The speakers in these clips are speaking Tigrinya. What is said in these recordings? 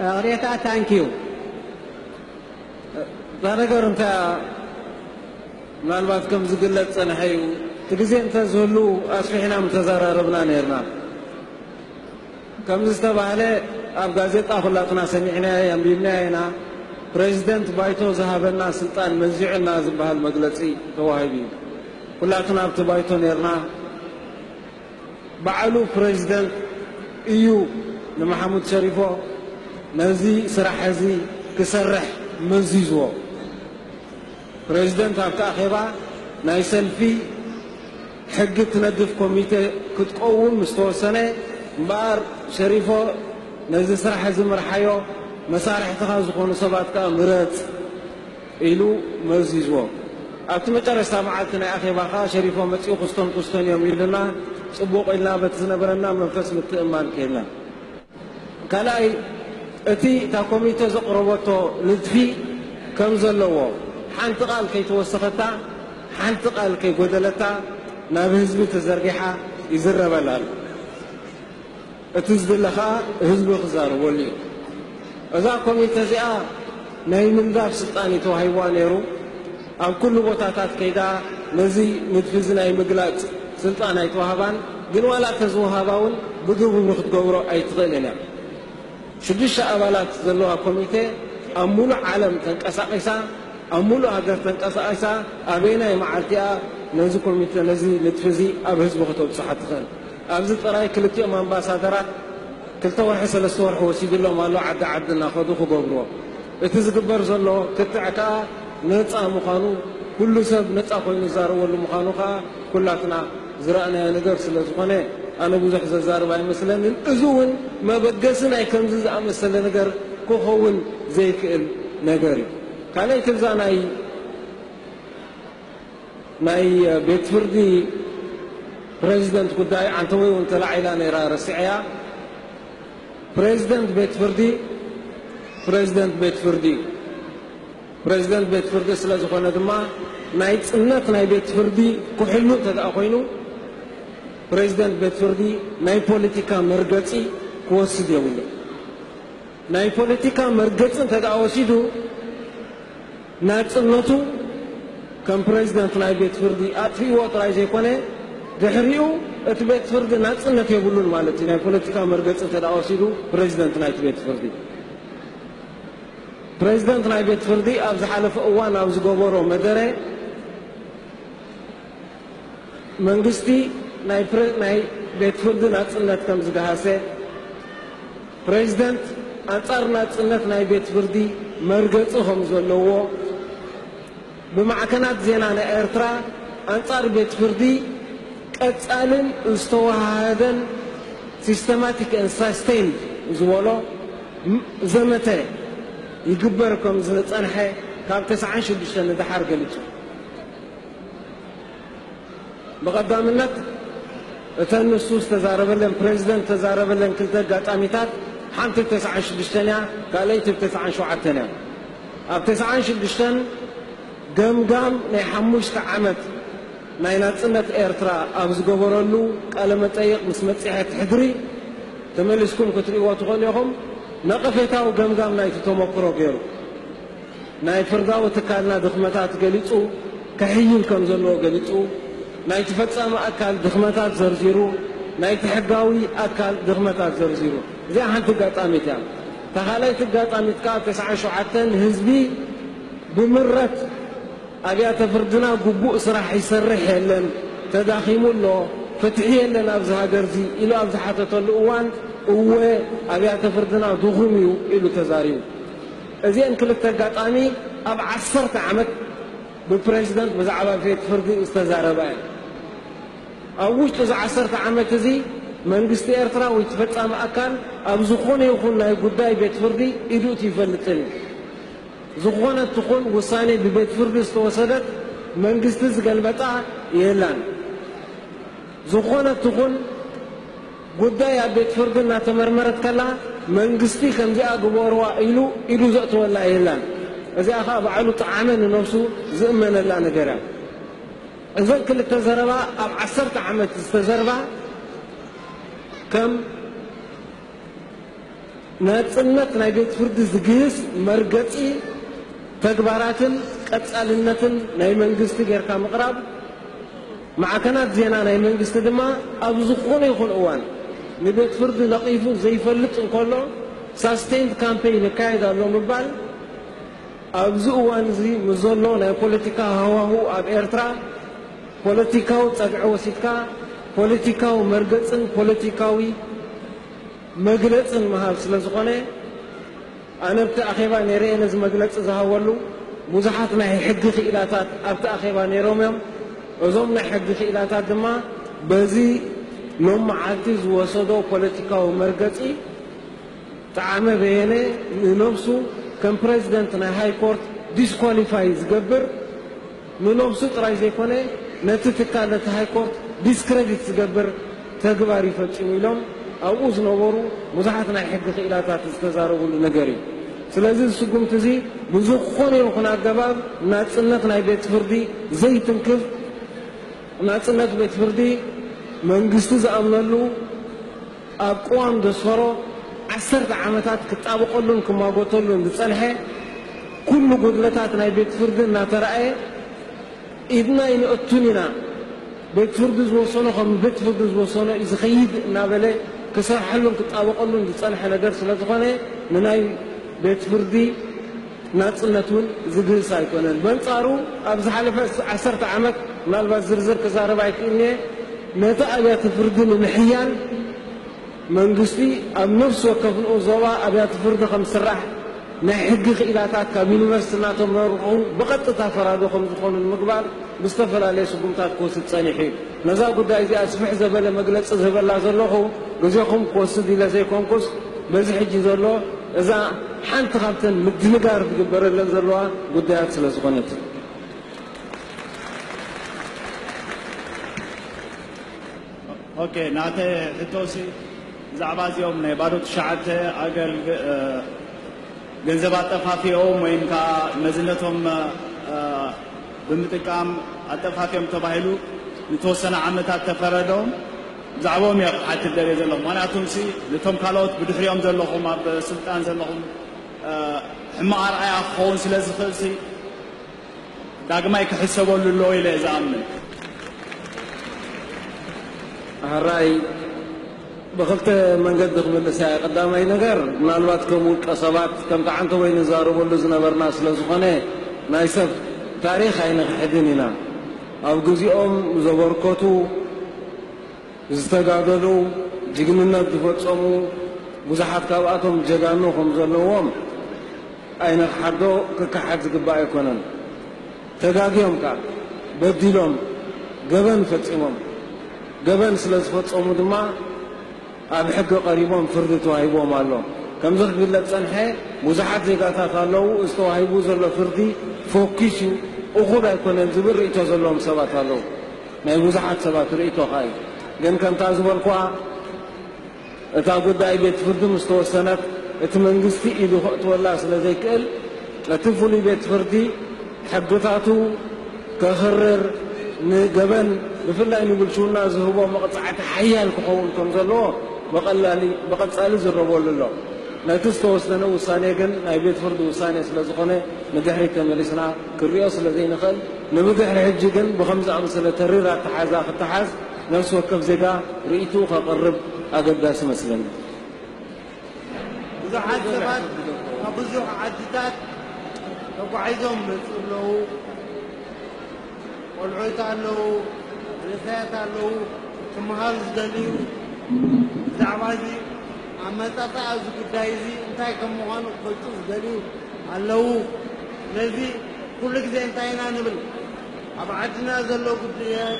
እቅሬታ ታንኪዩ እታ ነገር እንታይ ምናልባት ከም ዝግለጽ ጸንሐ እዩ እቲ ግዜ እንተ ዝህሉ ኣስፊሕና ምተዘራረብና ነርና ከምዚ ዝተባህለ ኣብ ጋዜጣ ኩላትና ሰሚዕናዮ ኣንቢብናዮ ኢና ፕሬዚደንት ባይቶ ዝሃበና ስልጣን መዚዑና ዝበሃል መግለፂ ተዋሂቡ እዩ ኩላትና ኣብቲ ባይቶ ነርና ባዕሉ ፕረዚደንት እዩ ንመሓሙድ ሸሪፎ ነዚ ስራሕ እዚ ክሰርሕ መዚዝዎ። ፕረዚደንት ኣብቲ ኣኼባ ናይ ሰልፊ ሕጊ እትነድፍ ኮሚቴ ክትቆውም ምስ ተወሰነ እምበኣር ሸሪፎ ነዚ ስራሕ እዚ ምርሓዮ መሳርሕትኻ ዝኾኑ ሰባት ከኣ ምረጽ ኢሉ መዚዝዎ። ኣብቲ መጨረሽታ መዓልቲ ናይ ኣኼባ ከኣ ሸሪፎ መጺኡ ክስቶን ክስቶን እዮም ኢሉና፣ ጽቡቕ ኢልና በቲ ዝነበረና መንፈስ ምትእምማን ኬድና። ካልኣይ እቲ እታ ኮሚተ ዘቕረበቶ ንድፊ ከም ዘለዎ ሓንቲ ቃል ከይተወሰኸታ ሓንቲ ቃል ከይጎደለታ ናብ ህዝቢ ተዘርጊሓ ይዝረበላ ኣሎ። እቲ ዝድለ ከኣ ህዝቢ ክዛረበሉ እዩ። እዛ ኮሚተ እዚኣ ናይ ምንዳፍ ስልጣን እዩ ተዋሂብዋ ነይሩ። ኣብ ኩሉ ቦታታት ከይዳ ነዚ ንድፊ እዚ ናይ ምግላጽ ስልጣን ኣይተዋህባን። ግን ዋላ ተዝወሃባ እውን ብግብሪ ክትገብሮ ኣይትኽእልን እያ። ሽዱሽተ ኣባላት ዘለዋ ኮሚተ ኣብ ምሉእ ዓለም ተንቀሳቒሳ፣ ኣብ ምሉእ ሃገር ተንቀሳቒሳ ኣበየናይ መዓልቲ እያ ነዚ ኮሚተ ነዚ ንድፊ እዚ ኣብ ህዝቢ ከተብጽሖ ትኽእል? ኣብዚ ጥራይ ክልቲኦም ኣምባሳደራት ክልተ ወርሒ ሰለስተ ወርሒ ወሲድሎም ኣሎ ዓዲ ዓዲ እናኸዱ ክገብርዎ። እቲ ዝግበር ዘሎ ክትዕ ከኣ ነጻ ምዃኑ ኩሉ ሰብ ነጻ ኮይኑ ዝዛረበሉ ምዃኑ ከኣ ኩላትና ዝረኣናዮ ነገር ስለ ዝኾነ ኣነ ብዙሕ ዘዛርብ ኣይመስለንን። እዚ እውን መበገሲ ናይ ከምዚ ዝኣመሰለ ነገር ክኸውን ዘይክእል ነገር እዩ። ካልኣይቲ እዛ ናይ። ናይ ቤት ፍርዲ ፕረዚደንት ጉዳይ ዓንተቦይ እውን ተላዒላ ነይራ ረሲዐያ። ፕረዚደንት ቤት ፍርዲ ፕረዚደንት ቤት ፍርዲ እዩ። ፕረዚደንት ቤት ፍርዲ ስለ ዝኾነ ድማ ናይ ፅነት ናይ ቤት ፍርዲ ክሕሉ እንተደኣ ኮይኑ ፕረዚደንት ቤት ፍርዲ ናይ ፖለቲካ መርገፂ ክወስድ የብሉን። ናይ ፖለቲካ መርገፂ እንተደኣ ወሲዱ ናጽነቱ ከም ፕረዚደንት ናይ ቤት ፍርዲ ኣጥፊእዎ ጥራይ ዘይኮነ፣ ድሕሪኡ እቲ ቤት ፍርዲ ናጽነት የብሉን ማለት እዩ፣ ናይ ፖለቲካ መርገጺ እንተ ወሲዱ ፕረዚደንት ናይቲ ቤት ፍርዲ። ፕረዚደንት ናይ ቤት ፍርዲ ኣብ ዝሓለፈ እዋን ኣብ ዝገበሮ መደረ፣ መንግስቲ ናይ ናይ ቤት ፍርዲ ናጽነት ከም ዝገሃሰ፣ ፕረዚደንት ኣንጻር ናጽነት ናይ ቤት ፍርዲ መርገጺ ከም ዘለዎ፣ ብማዕከናት ዜና ናይ ኤርትራ ኣንጻር ቤት ፍርዲ ቀጻልን ዝተወሃሃደን systematic and sustained ዝበሎ ዘመተ ይግበር ከም ዝጸንሐ ካብ ተስዓን ሽዱሽተን ንደሓር ገሊጹ። ብቐዳምነት እተን ንሱ ዝተዛረበለን ፕረዚደንት ዝተዛረበለን ክልተ ኣጋጣሚታት ሓንቲ ብ ተስዓን ሽዱሽተን እያ፣ ካልኣይቲ ብ ተስዓን ሸውዓተን እያ። ኣብ ተስዓን ሽዱሽተን ገምጋም ናይ ሓሙሽተ ዓመት ናይ ናጽነት ኤርትራ ኣብ ዝገበረሉ ቃለመጠይቕ ምስ መጽሔት ሕድሪ፣ ተመሊስኩም ክትርእይዎ ትኽእሉ ኢኹም፣ ነቐፌታዊ ገምጋም ናይቲ ተመክሮ ገይሩ። ናይ ፍርዳዊ ትካልና ድኽመታት ገሊጹ ከሕይል ከም ዘለዎ ገሊጹ፣ ናይቲ ፈጻሚ ኣካል ድኽመታት ዘርዚሩ፣ ናይቲ ሕጋዊ ኣካል ድኽመታት ዘርዚሩ። እዚኣ ሓንቲ ኣጋጣሚት እያ። እታ ካልኣይቲ ኣጋጣሚት ከኣ ተስዓን ሸውዓተን ህዝቢ ብምረት ኣብያተ ፍርድና ግቡእ ስራሕ ይሰርሕ የለን፣ ተዳኺሙ ኣሎ፣ ፍትሒ የለን ኣብዚ ሃገርዚ ኢሉ ኣብ ዝሓተተሉ እዋን እወ ኣብያተ ፍርድና ድኹም እዩ ኢሉ ተዛሪቡ። እዚኤን ክልተ ኣጋጣሚ ኣብ ዓሰርተ ዓመት ብፕረዚደንት ብዛዕባ ቤት ፍርዲ ዝተዛረባ እየን። ኣብ ውሽጢ እዚ ዓሰርተ ዓመት እዚ መንግስቲ ኤርትራ ወይ እቲ ፈጻሚ ኣካል ኣብ ዝኾነ ይኹን ናይ ጉዳይ ቤት ፍርዲ ኢዱ እትዩ ይፈልጥን እዩ። ዝኾነት ትኹን ውሳኔ ብቤት ፍርዲ ዝተወሰደት መንግስቲ ዝገልበጣ የላን። ዝኾነት ትኹን ጉዳይ ኣብ ቤት ፍርዲ እናተመርመረት ከላ መንግስቲ ከምዚኣ ግበሩዋ ኢሉ ኢዱ ዘእትወላ የላን። እዚኣ ከኣ ባዕሉ ጠዓመ ንነብሱ ዝእመነላ ነገር እያ። እዘን ክልተ ዘረባ ኣብ ዓሰርተ ዓመት ዝተዘርባ ከም። ናጽነት ናይ ቤት ፍርዲ ዝግህስ መርገጺ ተግባራትን ቀጻልነትን ናይ መንግስቲ ጌርካ ምቕራብ፣ ማዕከናት ዜና ናይ መንግስቲ ድማ ኣብ ዝኾነ ይኹን እዋን ንቤት ፍርዲ ነቒፉ ዘይፈልጥ እንከሎ ሳስቴይንድ ካምፔይን ይካየድ ኣሎ ምባል ኣብዚ እዋን'ዚ ምስ ዘሎ ናይ ፖለቲካ ሃዋሁ ኣብ ኤርትራ ፖለቲካዊ ጸግዒ ወሲድካ ፖለቲካዊ መርገጽን ፖለቲካዊ መግለጽን ምሃብ ስለ ዝኾነ ኣነ ኣብቲ ኣኼባ ነይረየ ነዚ መግለጺ ዝሃበሉ ብዙሓት ናይ ሕጊ ክኢላታት ኣብቲ ኣኼባ ነይሮም እዮም እዞም ናይ ሕጊ ክኢላታት ድማ በዚ ሎም መዓልቲ ዝወሰዶ ፖለቲካዊ መርገጺ ጠዓመ በየነ ንነብሱ ከም ፕረዚደንት ናይ ሃይኮርት ዲስኳሊፋይ ዝገብር ንነብሱ ጥራይ ዘይኮነ ነቲ ትካል ነቲ ሃይኮርት ዲስክረዲት ዝገብር ተግባር እዩ ፈጺሙ ኢሎም ኣብኡ ዝነበሩ ብዙሓት ናይ ሕጊ ክኢላታት ዝተዛረብሉ ነገር እዩ። ስለዚ እዚ ስጉምቲ እዚ ብዝኾነ ይኹን ኣገባብ ናጽነት ናይ ቤት ፍርዲ ዘይትንክፍ ናጽነት ቤት ፍርዲ መንግስቲ ዝኣምነሉ ኣብ ቅዋም ዘስፈሮ ዓሰርተ ዓመታት ክጣበቐሉን ክሟጎተሉን ዝጸንሐ ኩሉ ጉድለታት ናይ ቤት ፍርዲ እናተራእየ ኢድና ኣይነእቱን ኢና ቤት ፍርዲ ዝወሰኖ ከም ቤት ፍርዲ ዝወሰኖ እዩ ዝኸይድ እናበለ ክሰርሐሉን ክጣበቐሉን ዝጸንሐ ነገር ስለዝኾነ ንናይ ቤት ፍርዲ ናጽነት እውን ዝግህስ ኣይኮነን። በንጻሩ ኣብ ዝሓለፈ ዓሰርተ ዓመት፣ ምናልባት ዝርዝር ክዛረብ ኣይክእልን እየ፣ ነቲ ኣብያተ ፍርዲ ንምሕያል መንግስቲ ኣብ ነፍሲ ወከፍ ንኡስ ዞባ ኣብያተ ፍርዲ ከም ዝስራሕ፣ ናይ ሕጊ ክኢላታት ካብ ዩኒቨርሲቲ እናተመርቑ ብቐጥታ ፈራዶ ከም ዝኾኑ ንምግባር ብዝተፈላለየ ስጉምታት ክወስድ ጸኒሑ እዩ። ነዛ ጉዳይ እዚኣ ስፍሕ ዘበለ መግለጺ ዝህበላ ዘለኹ ግዜኹም ክወስድ ኢለ ዘይኮንኩስ በዚ ሕጂ ዘሎ እዛ ሓንቲ ካብተን ምድንጋር ዝግበረለን ዘለዋ ጉዳያት ስለ ዝኾነት እዩ። ኦኬ ናተ ሕቶሲ ብዛዕባ እዚኦም ናይ ባዶ ትሽዓተ ኣገል ገንዘብ ኣጠፋፊኦም ወይም ከዓ መዝነቶም ብምጥቃም ኣጠፋፊኦም ተባሂሉ ንተወሰነ ዓመታት ተፈረዶም ብዛዕብኦም እየ ክሓትት ደልየ ዘለኹ ምክንያቱምሲ ነቶም ካልኦት ብድሕሪኦም ዘለኹም ኣብ ስልጣን ዘለኹም ሕማቕ ኣርኣያ ክኸውን ስለ ዝኽእልሲ ዳግማይ ክሕሰበሉ ኣለዎ ኢለ እየ ዝኣምን። ኣህራይ ብኽልተ መንገዲ ክምልሳ እየ። ቀዳማይ ነገር ምናልባት ከም ውልቀ ሰባት ከምቲ ዓንተቦይ ንዛረበሉ ዝነበርና ስለ ዝኾነ ናይ ሰብ ታሪኽ ኣይንኽሕድን ኢና። ኣብ ግዚኦም ዘበርከቱ፣ ዝተጋደሉ፣ ጅግንነት ዝፈጸሙ ብዙሓት ካብኣቶም ጀጋኑ ከም ዘለዎም ኣይንኽሓዶ ክከሓድ ዝግባእ ኣይኮነን። ተጋግዮም ከኣ በዲሎም ገበን ፈጺሞም። ገበን ስለ ዝፈጸሙ ድማ ኣብ ሕጊ ቀሪቦም ፍርዲ ተዋሂብዎም ኣሎ። ከምዚ ክግለጽ ዝጸንሐ ብዙሓት ዜጋታት ኣለዉ፣ እዚ ተዋሂቡ ዘሎ ፍርዲ ፎኪስ እዩ፣ እኹል ኣይኮነን ዝብል ርእይቶ ዘለዎም ሰባት ኣለዉ። ናይ ብዙሓት ሰባት ርእይቶ ከኣ እዩ። ግን ከምታ ዝበልኩዋ፣ እታ ጉዳይ ቤት ፍርዲ ምስ ተወሰነት እቲ መንግስቲ ኢዱ ከእትወላ ስለ ዘይክእል እቲ ፍሉይ ቤት ፍርዲ ሕግታቱ ከኽርር ንገበን ብፍላይ ንብልሽውና ዝህቦ መቕጻዕቲ ሓያል ክኸውን ከም ዘለዎ ብቐላሊ ብቐጻሊ ዝረበሉ ኣሎ። ነቲ ዝተወሰነ ውሳኔ ግን ናይ ቤት ፍርዲ ውሳኔ ስለ ዝኾነ ንድሕሪት ተመሊስና ክንሪኦ ስለ ዘይንኽእል ንብድሕሪ ሕጂ ግን ብኸምዚ ዝኣመሰለ ተሪር ኣተሓሕዛ ክተሓዝ ነፍሲ ወከፍ ዜጋ ርእይትኡ ከቕርብ ኣገዳሲ እመስለኒ። ብዙሓት ሰባት ካብ ብዙሕ ዓድታት ተጓዒዞም ይመጽኡ ኣለዉ። ቆልዑት ኣለዉ፣ መንእሰያት ኣለዉ፣ ክመሃሩ ዝደልዩ። ብዛዕባ እዚ ኣመጻጽኣ እዚ ጉዳይ እዚ እንታይ ከም ምዃኑ ክፈልጡ ዝደልዩ ኣለዉ። ስለዚ ኩሉ ግዜ እንታይ ኢና ንብል? ኣብ ዓድና ዘሎ ጉዳያት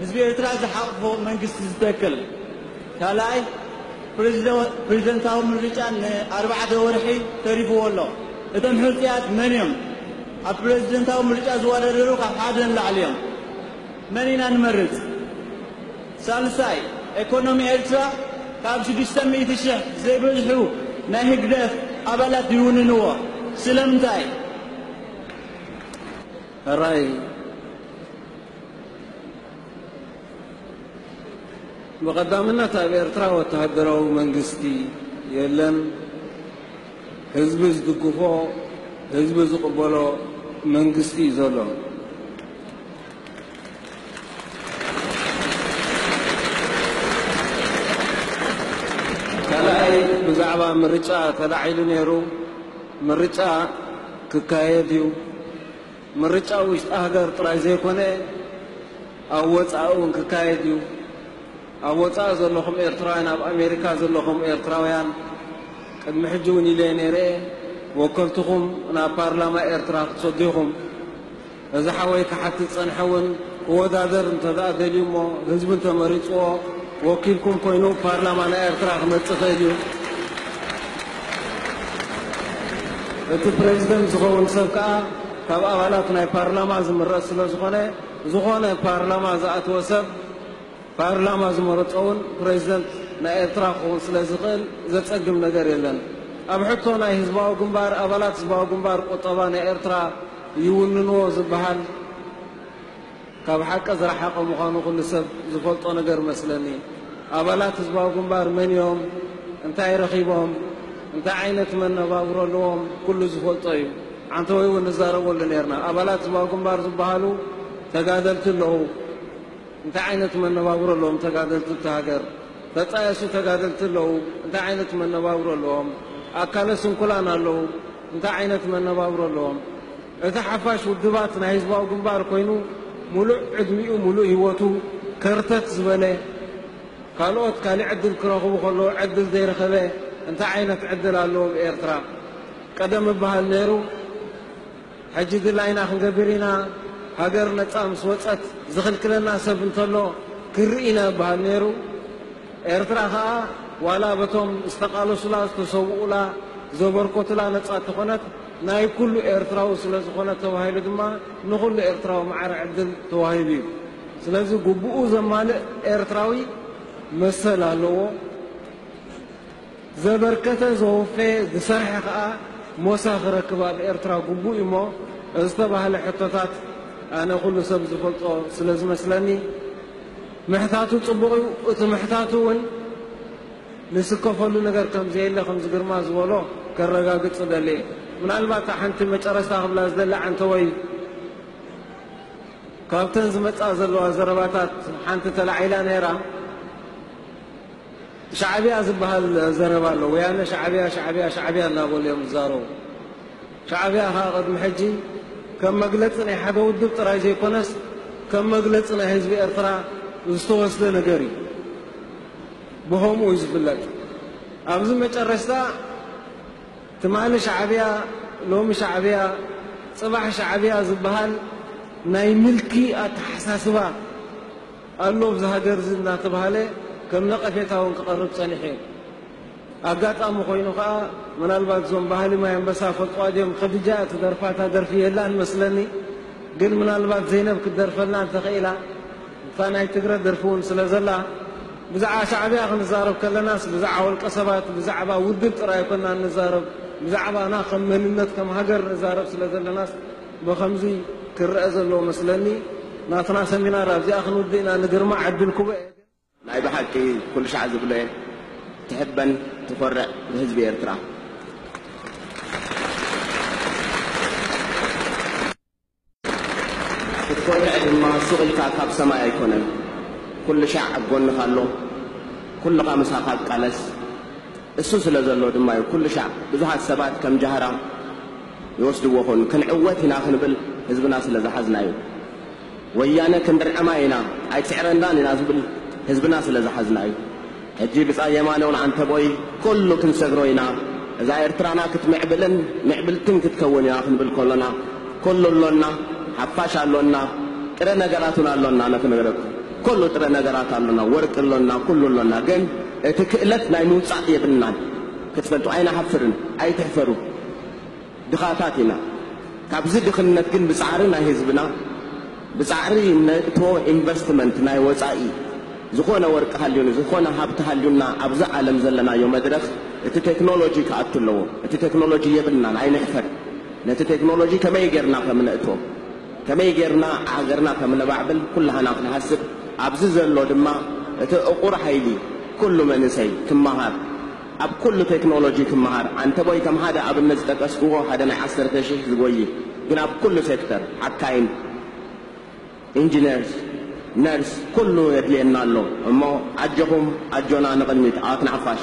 ህዝቢ ኤርትራ ዝሓቕፎ መንግስቲ ዝተክል ካልኣይ ፕረዚደንታዊ ምርጫ ንኣርባዕተ ወርሒ ተሪፍዎ ኣሎ። እቶም ሕጹያት መን እዮም? ኣብ ፕረዚደንታዊ ምርጫ ዝወዳደሩ ካብ ሓደ ንላዕሊ እዮም። መን ኢና ንመርጽ? ሳልሳይ ኤኮኖሚ ኤርትራ ካብ ሽዱሽተ ሚእቲ ሽሕ ዘይበዝሑ ናይ ህግደፍ ኣባላት ይውንንዎ። ስለምንታይ? ሕራይ። ብቐዳምነት ኣብ ኤርትራ ወተሃደራዊ መንግስቲ የለን። ህዝቢ ዝድግፎ፣ ህዝቢ ዝቕበሎ መንግስቲ እዩ ዘሎ። ብዛዕባ ምርጫ ተላዒሉ ነይሩ። ምርጫ ክካየድ እዩ። ምርጫ ኣብ ውሽጢ ሃገር ጥራይ ዘይኮነ ኣብ ወጻኢ እውን ክካየድ እዩ። ኣብ ወጻኢ ዘለኹም ኤርትራውያን ኣብ ኣሜሪካ ዘለኹም ኤርትራውያን ቅድሚ ሕጂ እውን ኢለየ ነይረ እየ ወከልትኹም ናብ ፓርላማ ኤርትራ ክትሰዱ ኢኹም። እዚ ሓወይ ክሓትት ዝጸንሐ እውን ክወዳደር እንተ ደልዩ እሞ ህዝቢ እንተ መሪጽዎ ወኪልኩም ኮይኑ ፓርላማ ናይ ኤርትራ ክመጽእ ይኽእል እዩ። እቲ ፕረዚደንት ዝኸውን ሰብ ከኣ ካብ ኣባላት ናይ ፓርላማ ዝምረጽ ስለዝኾነ ዝኾነ ፓርላማ ዝኣተወ ሰብ ፓርላማ ዝመረጾ እውን ፕረዚደንት ናይ ኤርትራ ክኸውን ስለዝኽእል ዘጸግም ነገር የለን። ኣብ ሕቶ ናይ ህዝባዊ ግንባር ኣባላት ህዝባዊ ግንባር ቁጠባ ናይ ኤርትራ ይውንንዎ ዝበሃል ካብ ሓቂ ዝረሓቐ ምዃኑ ኩሉ ሰብ ዝፈልጦ ነገር እመስለኒ። ኣባላት ህዝባዊ ግንባር መን እዮም፣ እንታይ ረኺቦም፣ እንታይ ዓይነት መነባብሮ ኣለዎም ኩሉ ዝፈልጦ እዩ። ዓንተወይ እውን ንዛረበሉ ነይርና። ኣባላት ህዝባዊ ግንባር ዝበሃሉ ተጋደልቲ ኣለዉ። እንታይ ዓይነት መነባብሮ ኣለዎም ተጋደልቲ ኣብቲ ሃገር? ተጣየሱ ተጋደልቲ ኣለዉ። እንታይ ዓይነት መነባብሮ ኣለዎም? ኣካለ ስንኩላን ኣለዉ። እንታይ ዓይነት መነባብሮ ኣለዎም? እቲ ሓፋሽ ውድባት ናይ ህዝባዊ ግንባር ኮይኑ ሙሉእ ዕድሚኡ ሙሉእ ሂወቱ ከርተት ዝበለ ካልኦት ካሊእ ዕድል ክረኽቡ ከለዉ ዕድል ዘይረኸበ እንታይ ዓይነት ዕድል ኣሎ ኣብ ኤርትራ ቀደም ይበሃል ነይሩ ሕጂ ድላይና ክንገብር ኢና ሃገር ነጻ ምስ ወጸት ዝኽልክለና ሰብ እንተሎ ክንርኢ ኢና ይበሃል ነይሩ ኤርትራ ከኣ ዋላ በቶም ዝተቃለሱላ ዝተሰውኡላ ዘበርኮቱላ ነጻ ተኾነት ናይ ኩሉ ኤርትራዊ ስለ ዝኾነ ተባሂሉ ድማ ንኹሉ ኤርትራዊ ማዕረ ዕድል ተዋሂቡ እዩ። ስለዚ ጉቡኡ ዘማልእ ኤርትራዊ መሰል ኣለዎ። ዘበርከተ፣ ዘወፈየ፣ ዝሰርሐ ከኣ ሞሳ ክረክብ ኣብ ኤርትራ ጉቡእ እዩ እሞ ዝተባህለ ሕቶታት ኣነ ኩሉ ሰብ ዝፈልጦ ስለ ዝመስለኒ ምሕታቱ ጽቡቕ እዩ። እቲ ምሕታቱ እውን ንስከፈሉ ነገር ከም ዘየለ ከምዚ ግርማ ዝበሎ ከረጋግጽ እደሊ እየ ምናልባት እታ ሓንቲ መጨረስታ ክብላ ዝደሊ ዓንተወይ ካብተን ዝመጻ ዘለዋ ዘረባታት ሓንቲ ተላዒላ ነይራ ሻዕብያ ዝበሃል ዘረባ ኣሎ ወያነ ሻዕብያ ሻዕብያ ሻዕብያ እናበሉ እዮም ዝዛረቡ ሻዕብያ ከዓ ቅድሚ ሕጂ ከም መግለጺ ናይ ሓደ ውድብ ጥራይ ዘይኮነስ ከም መግለጺ ናይ ህዝቢ ኤርትራ ዝተወስደ ነገር እዩ ብኸምኡ እዩ ዝፍለጥ። ኣብዚ መጨረሽታ ትማሊ ሻዕብያ ሎሚ ሻዕብያ ፅባሕ ሻዕብያ ዝብሃል ናይ ምልኪ ኣተሓሳስባ ኣሎ ኣብዚ ሃገር እዚ እናተብሃለ ከም ነቐፌታ እውን ክቐርብ ፀኒሑ እዩ። ኣጋጣሚ ኮይኑ ከዓ ምናልባት እዞም ባህሊ ማይ ኣንበሳ ይፈልጥዋ ድዮም ኸድጃ እያ ትደርፋ እታ ደርፊ የላን መስለኒ ግን ምናልባት ዘይነብ ክትደርፈልና እንተኽኢላ እታ ናይ ትግረ ደርፊ ውን ስለ ዘላ ብዛዕባ ሻዕብያ ክንዛረብ ከለናስ ብዛዕባ ውልቀ ሰባት ብዛዕባ ውድብ ጥራይ ኣይኮናን ንዛረብ ብዛዕባና ከም መንነት ከም ሃገር ንዛረብ ስለ ዘለናስ ብኸምዚ ክረኣ ዘለዎ መስለኒ ናትና ሰሚናር ኣብዚኣ ክንውድእ ኢና ንግርማ ዕድል ክቦ እየ ግን ናይ ብሓቂ ኩሉ ሻዕ ዝብሎ እየ ትሕበን ትኮርዕ ብህዝቢ ኤርትራ። ክትኮርዕ ድማ ሱቕ ኢልካ ካብ ሰማይ ኣይኮነን ኩልሻዕ ኣብ ጎንኻ ኣሎ ኩልኻ ምሳኻ ቃለስ እሱ ስለ ዘሎ ድማ እዩ ኩልሻዕ ብዙሓት ሰባት ከም ጃህራ ይወስድዎ ኹን ክንዕወት ኢና ክንብል ህዝብና ስለ ዝሓዝና እዩ ወያነ ክንድርዕማ ኢና ኣይትስዕረናን ኢና ዝብል ህዝብና ስለ ዝሓዝና እዩ ሕጂ ብጻይ የማነውን ዓንተቦይ ኩሉ ክንሰግሮ ኢና፣ እዛ ኤርትራና ክትምዕብልን ምዕብልትን ክትከውን እያ ክንብል ከሎና ኩሉ ኣሎና፣ ሓፋሽ ኣሎና፣ ጥረ ነገራት እውን ኣሎና ኣነ ክነግረኩም ኩሉ ጥረ ነገራት ኣሎና፣ ወርቂ ኣሎና፣ ኩሉ ኣሎና ግን እቲ ክእለት ናይ ምውጻእ የብልናን ክትፈልጡ ኣይንሓፍርን ኣይትሕፈሩ። ድኻታት ኢና ካብዚ ድኽነት ግን ብጻዕሪ ናይ ህዝብና ብጻዕሪ ነእቶ ኢንቨስትመንት ናይ ወጻኢ ዝኾነ ወርቂ ሃልዩኒ ዝኾነ ሃብቲ ሃልዩና ኣብዚ ዓለም ዘለናዮ መድረኽ እቲ ቴክኖሎጂ ክኣቱ ኣለዎ እቲ ቴክኖሎጂ የብልናን ኣይንሕፈር ነቲ ቴክኖሎጂ ከመይ ጌርና ከም ነእቶ ከመይ ጌርና ሃገርና ከም ነባዕብል ኩላህና ክንሃስብ ኣብዚ ዘሎ ድማ እቲ እቑር ሃይሊ ኩሉ መንእሰይ ክመሃር ኣብ ኩሉ ቴክኖሎጂ ትመሃር ዓንተቦይ ከም ሃደ ኣብነት ዝጠቀስክዎ ሃደ ናይ ዓሰርተ ሽሕ ዝጎይ ግን ኣብ ኩሉ ሴክተር ሓካይም ኢንጅነርስ ነርስ ኩሉ የድልየና ኣሎ እሞ ኣጆኹም ኣጆና ንቅድሚት ዓወት ንሓፋሽ።